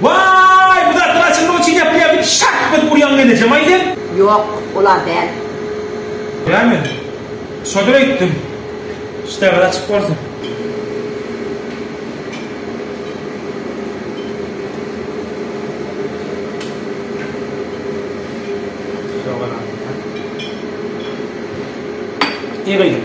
Waý, bu zatlar açylmak üçin ýapylýar diýip şak berip urýaňmy enejemal sen? Ýok, olar däl. Näme? Şodur aýtdym. Ştaby açyk bolsun. Şogalam. Eý gyzym.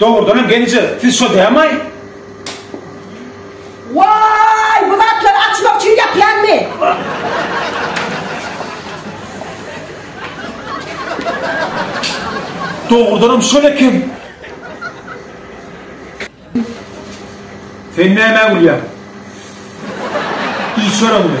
Dogrudanam gelije siz şo dämaý. Waý bu zatlary açmak üçin ýapýanmy. Dogrudanam şol eken. Sen nämä gülýäň. Iç örümini.